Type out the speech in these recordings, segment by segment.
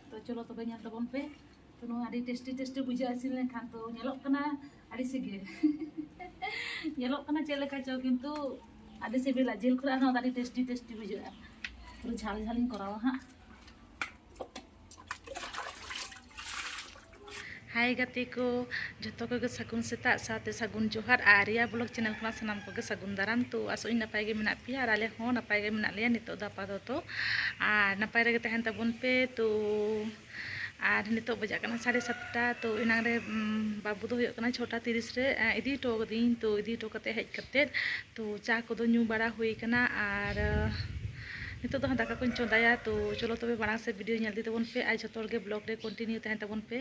ᱛᱚ ᱪᱚᱞᱚ ᱛᱚᱵᱮ ᱧᱮᱞ ᱛᱟᱵᱚᱱ ᱯᱮ ᱛᱚ ᱱᱚᱣᱟ ᱟᱹᱰᱤ ᱴᱮᱥᱴᱤ ᱴᱮᱥᱴᱤ ᱵᱩᱡᱷᱟᱹᱜᱼᱟ ᱤᱥᱤᱱ ᱞᱮᱱᱠᱷᱟᱱ ᱛᱚ ᱧᱮᱞᱚᱜ ᱠᱟᱱᱟ ᱟᱹᱰᱤ ᱥᱤᱜᱮ ᱧᱮᱞᱚᱜ ᱠᱟᱱᱟ ᱪᱮᱫ ᱞᱮᱠᱟ ᱪᱚ ᱠᱤᱱᱛᱩ ᱟᱹᱰᱤ ᱥᱤᱵᱤᱞᱟ ᱡᱤᱞ ᱠᱷᱚᱱ ᱦᱚᱸ ᱟᱹᱰᱤ ᱴᱮᱥᱴᱤ ᱴᱮᱥᱴᱤ ᱵᱩᱡᱷᱟᱹᱜᱼᱟ ᱯᱩᱨᱟᱹ ᱡᱷᱟᱞ ᱡᱷᱟᱞᱤᱧ ᱠᱚᱨᱟᱣᱟ ᱦᱟᱸᱜ ᱦᱟᱭ ᱜᱟᱛᱮ ᱠᱚ ᱡᱚᱛᱚ ᱠᱚᱜᱮ ᱥᱟᱹᱜᱩᱱ ᱥᱮᱛᱟᱜ ᱥᱟᱶᱛᱮ ᱥᱟᱹᱜᱩᱱ ᱡᱚᱦᱟᱨ ᱟᱨ ᱟᱨᱭᱟ ᱵᱞᱚᱜ ᱪᱮᱱᱮᱞ ᱠᱷᱚᱱᱟᱜ ᱥᱟᱱᱟᱢ ᱠᱚᱜᱮ ᱥᱟᱹᱜᱩᱱ ᱫᱟᱨᱟᱢ ᱛᱚ ᱟᱥᱚᱜ ᱟᱹᱧ ᱱᱟᱯᱟᱭ ᱜᱮ ᱢᱮᱱᱟᱜ ᱯᱮᱭᱟ ᱟᱨ ᱟᱞᱮ ᱦᱚᱸ ᱱᱟᱯᱟᱭ ᱜᱮ ᱢᱮᱱᱟᱜ ᱞᱮᱭᱟ ᱱᱤᱛᱚᱜ ᱫᱚ ᱟᱯᱟᱛᱚᱛᱚ ᱟᱨ ᱱᱟᱯᱟᱭ ᱨᱮᱜᱮ ᱛᱟᱦᱮᱱ ᱛᱟᱵᱚᱱ ᱯᱮ ᱛᱚ ᱟᱨ ᱱᱤᱛᱚᱜ ᱵᱟᱡᱟᱜ ᱠᱟᱱᱟ ᱥᱟᱲᱮ ᱥᱟᱛᱴᱟ ᱛᱚ ᱮᱱᱟᱝ ᱨᱮ ᱵᱟᱹᱵᱩ ᱫᱚ ᱦᱩᱭᱩᱜ ᱠᱟᱱᱟ ᱪᱷᱚᱴᱟ ᱛᱤᱨᱤᱥ ᱨᱮ ᱤᱫᱤ ᱦᱚᱴᱚ ᱠᱟᱹᱫᱤᱧ ᱛᱚ ᱤᱫᱤ ᱦᱚᱴᱚ ᱠᱟᱛᱮᱫ ᱦᱮᱡ ᱠᱟᱛᱮᱫ ᱛᱚ ᱪᱟ ᱠᱚᱫᱚ ᱧᱩ ᱵᱟᱲᱟ ᱦᱩᱭ ᱠᱟᱱᱟ ᱟᱨ ᱱᱤᱛᱚᱜ ᱫᱚ ᱦᱟᱸᱜ ᱫᱟᱠᱟ ᱠᱚᱧ ᱪᱚᱸᱫᱟᱭᱟ ᱛᱚ ᱪᱚᱞᱚ ᱛᱚᱵᱮ ᱢᱟᱲᱟᱝ ᱥᱮᱫ ᱵᱷᱤᱰᱤᱭᱳ ᱧᱮᱞ ᱤᱫᱤ ᱛᱟᱵᱚᱱ ᱯᱮ ᱟᱨ ᱡᱷᱚᱛᱚ ᱦᱚᱲ ᱜᱮ ᱵᱞᱚᱜ ᱨᱮ ᱠᱚᱱᱴᱤᱱᱤᱭᱩ ᱛᱟᱦᱮᱱ ᱛᱟᱵᱚᱱ ᱯᱮ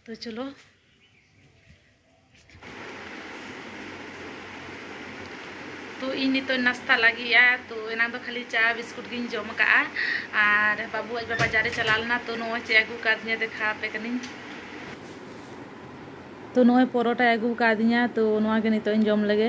ᱛᱚ ᱪᱚᱞᱚ ᱛᱚ ᱤᱧ ᱱᱤᱛᱚᱜ ᱱᱟᱥᱛᱟ ᱞᱟᱹᱜᱤᱫᱼᱟ ᱛᱚ ᱮᱱᱟᱝ ᱫᱚ ᱠᱷᱟᱹᱞᱤ ᱪᱟ ᱵᱤᱥᱠᱩᱴ ᱜᱤᱧ ᱡᱚᱢ ᱟᱠᱟᱫᱼᱟ ᱟᱨ ᱵᱟᱹᱵᱩ ᱟᱡ ᱵᱟᱵᱟ ᱡᱟᱨᱮ ᱪᱟᱞᱟᱣ ᱞᱮᱱᱟ ᱛᱚ ᱱᱚᱜᱼᱚᱭ ᱪᱮᱫ ᱟᱹᱜᱩ ᱠᱟᱫᱤᱧᱟ ᱫᱮᱠᱷᱟᱣ ᱟᱯᱮ ᱠᱟᱹᱱᱟᱹᱧ ᱛᱚ ᱱᱚᱜᱼᱚᱭ ᱯᱚᱨᱚᱴᱟᱭ ᱟᱹᱜᱩ ᱠᱟᱫᱤᱧᱟ ᱛᱚ ᱱᱚᱣᱟ ᱜᱮ ᱱᱤᱛᱚᱜ ᱤᱧ ᱡᱚᱢ ᱞᱮᱜᱮ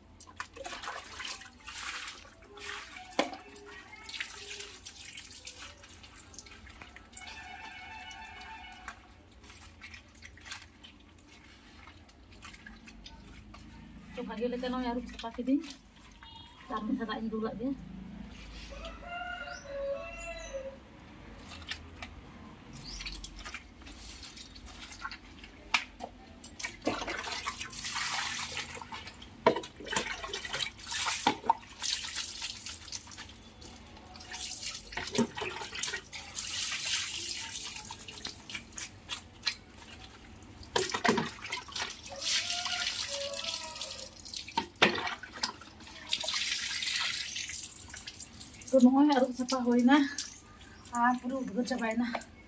ᱵᱷᱟᱜᱮ ᱞᱮᱠᱟ ᱱᱚᱜᱼᱚᱭ ᱟᱹᱨᱩᱵ ᱥᱟᱯᱷᱟ ᱠᱤᱫᱤᱧ ᱟᱨ ᱢᱤᱫ ᱫᱷᱟᱣ ᱫᱟᱜ ᱤᱧ ᱫᱩᱞᱟᱜ ᱜᱮ ᱛᱚ ᱱᱚᱜᱼᱚᱭ ᱟᱹᱨᱩᱵ ᱥᱟᱯᱷᱟ ᱦᱩᱭᱱᱟ ᱟᱨ ᱯᱩᱨᱟᱹ ᱩᱫᱽᱜᱟᱹᱨ ᱪᱟᱵᱟᱭᱮᱱᱟ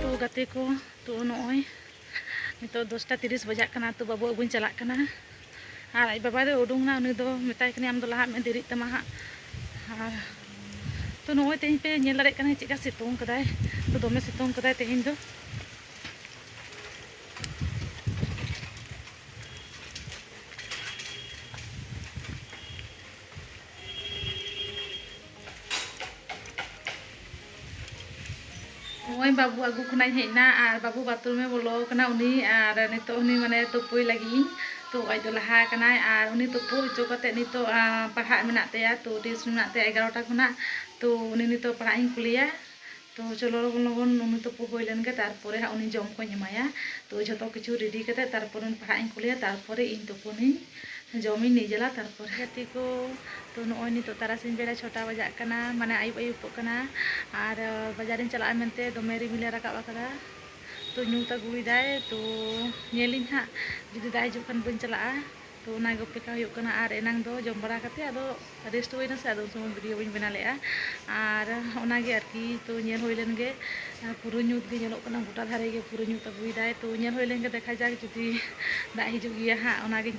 ᱛᱚ ᱜᱟᱛᱮ ᱠᱚ ᱛᱚ ᱱᱚᱜᱼᱚᱭ ᱱᱤᱛᱚᱜ ᱫᱚᱥᱴᱟ ᱛᱤᱨᱤᱥ ᱵᱟᱡᱟᱜ ᱠᱟᱱᱟ ᱛᱚ ᱵᱟᱹᱵᱩ ᱟᱹᱜᱩᱧ ᱪᱟᱞᱟᱜ ᱠᱟᱱᱟ ᱟᱨ ᱟᱡ ᱵᱟᱵᱟ ᱫᱚ ᱩᱰᱩᱝ ᱮᱱᱟ ᱩᱱᱤ ᱫᱚ ᱢᱮᱛᱟᱭ ᱠᱟᱹᱱᱟᱹᱧ ᱟᱢ ᱫᱚ ᱞᱟᱦᱟᱜ ᱢᱮ ᱫᱮᱨᱤᱜ ᱛᱟᱢᱟ ᱦᱟᱸᱜ ᱟᱨ ᱛᱚ ᱱᱚᱜᱼᱚᱭ ᱛᱮᱦᱮᱧ ᱯᱮ ᱧᱮᱞ ᱫᱟᱲᱮᱭᱟᱜ ᱠᱟᱱᱟ ᱪᱮᱫᱠᱟ ᱥᱤᱛᱩᱝ ᱠᱟᱫᱟᱭ ᱛᱚ ᱫᱚᱢᱮ ᱥᱤᱛᱩᱝ ᱠᱟᱫᱟᱭ ᱛᱮᱦᱮᱧ ᱫᱚ ᱱᱚᱜᱼᱚᱭ ᱵᱟᱹᱵᱩ ᱟᱹᱜᱩ ᱠᱷᱚᱱᱟᱜ ᱤᱧ ᱦᱮᱡ ᱮᱱᱟ ᱟᱨ ᱵᱟᱹᱵᱩ ᱵᱟᱛᱷᱨᱩᱢᱮ ᱵᱚᱞᱚ ᱟᱠᱟᱱᱟ ᱩᱱᱤ ᱟᱨ ᱱᱤᱛᱚᱜ ᱩᱱᱤ ᱢᱟᱱᱮ ᱛᱩᱯᱩᱭ ᱞᱟᱹᱜᱤᱫ ᱤᱧ ᱛᱚ ᱟᱡ ᱫᱚ ᱞᱟᱦᱟ ᱟᱠᱟᱱᱟᱭ ᱟᱨ ᱩᱱᱤ ᱛᱩᱯᱩ ᱦᱚᱪᱚ ᱠᱟᱛᱮ ᱱᱤᱛᱚᱜ ᱯᱟᱲᱦᱟᱜ ᱢᱮᱱᱟᱜ ᱛᱟᱭᱟ ᱛᱚ ᱴᱤᱭᱩᱥᱚᱱ ᱢᱮᱱᱟᱜ ᱛᱟᱭᱟ ᱮᱜᱟᱨᱚᱴᱟ ᱠᱷᱚᱱᱟᱜ ᱛᱚ ᱩᱱᱤ ᱱᱤᱛᱚᱜ ᱯᱟᱲᱦᱟᱜ ᱤᱧ ᱠᱩᱞᱮᱭᱟ ᱛᱚ ᱪᱚᱞᱚ ᱞᱚᱜᱚᱱ ᱞᱚᱜᱚᱱ ᱱᱩᱱᱩ ᱛᱩᱯᱩ ᱦᱩᱭ ᱞᱮᱱ ᱜᱮ ᱛᱟᱨᱯᱚᱨᱮ ᱦᱟᱸᱜ ᱩᱱᱤ ᱡᱚᱢ ᱠᱚᱧ ᱮᱢᱟᱭᱟ ᱛᱚ ᱡᱷᱚᱛᱚ ᱠᱤᱪᱷᱩ ᱨᱮᱰᱤ ᱠᱟᱛᱮ ᱛᱟᱨᱯᱚᱨᱮ ᱩᱱᱤ ᱯᱟᱲᱦᱟᱜ ᱤᱧ ᱠᱩᱞᱮᱭᱟ ᱛᱟᱨᱯᱚᱨᱮ ᱤᱧ ᱛᱩᱯᱩᱱᱤᱧ ᱡᱚᱢᱤᱧ ᱱᱤᱡᱮᱞᱟ ᱛᱟᱨᱯᱚᱨᱮ ᱜᱟᱛᱮ ᱠᱚ ᱛᱚ ᱱᱚᱜᱼᱚᱭ ᱱᱤᱛᱚᱜ ᱛᱟᱨᱟᱥᱤᱧ ᱵᱮᱲᱟ ᱪᱷᱚᱴᱟ ᱵᱟᱡᱟᱜ ᱠᱟᱱᱟ ᱢᱟᱱᱮ ᱟᱹᱭᱩᱵ ᱟᱹᱭᱩᱵᱚᱜ ᱠᱟᱱᱟ ᱟᱨ ᱵᱟᱡᱟᱨᱤᱧ ᱪᱟᱞᱟᱜᱼᱟ ᱢᱮᱱᱛᱮ ᱫᱚᱢᱮ ᱨᱤᱢᱤᱞᱮ ᱨᱟᱠᱟᱵ ᱟᱠᱟᱫᱟ ᱛᱚ ᱧᱩᱛ ᱟᱹᱜᱩᱭᱮᱫᱟᱭ ᱛᱚ ᱧᱮᱞᱤᱧ ᱦᱟᱸᱜ ᱡᱩᱫᱤ ᱫᱟᱜ ᱦᱤᱡᱩᱜ ᱠᱷᱟᱱ ᱵᱟᱹᱧ ᱪᱟᱞᱟᱜᱼᱟ ᱛᱚ ᱚᱱᱟ ᱜᱮ ᱚᱯᱮᱠᱷᱟ ᱦᱩᱭᱩᱜ ᱠᱟᱱᱟ ᱟᱨ ᱮᱱᱟᱝ ᱫᱚ ᱡᱚᱢ ᱵᱟᱲᱟ ᱠᱟᱛᱮ ᱟᱫᱚ ᱨᱮᱥᱴ ᱦᱩᱭ ᱱᱟᱥᱮ ᱟᱫᱚ ᱩᱱ ᱥᱚᱢᱚᱭ ᱵᱷᱤᱰᱤᱭᱳ ᱵᱟᱹᱧ ᱵᱮᱱᱟᱣ ᱞᱮᱫᱼᱟ ᱟᱨ ᱚᱱᱟ ᱜᱮ ᱟᱨᱠᱤ ᱛᱚ ᱧᱮᱞ ᱦᱩᱭ ᱞᱮᱱ ᱜᱮ ᱯᱩᱨᱟᱹ ᱧᱩᱛ ᱜᱮ ᱧᱮᱞᱚᱜ ᱠᱟᱱᱟ ᱜᱚᱴᱟ ᱫᱷᱟᱨᱮ ᱜᱮ ᱯᱩᱨᱟᱹ ᱧᱩᱛ ᱟᱹᱜᱩᱭᱮᱫᱟᱭ ᱛᱚ ᱧᱮᱞ ᱦᱩᱭ ᱞᱮᱱ ᱜᱮ ᱫᱮᱠᱷᱟ ᱡᱟᱠ ᱡᱩᱫᱤ ᱫᱟᱜ ᱦᱤᱡᱩᱜ ᱜᱮᱭᱟ ᱦᱟᱸᱜ ᱚᱱᱟ ᱜᱤᱧ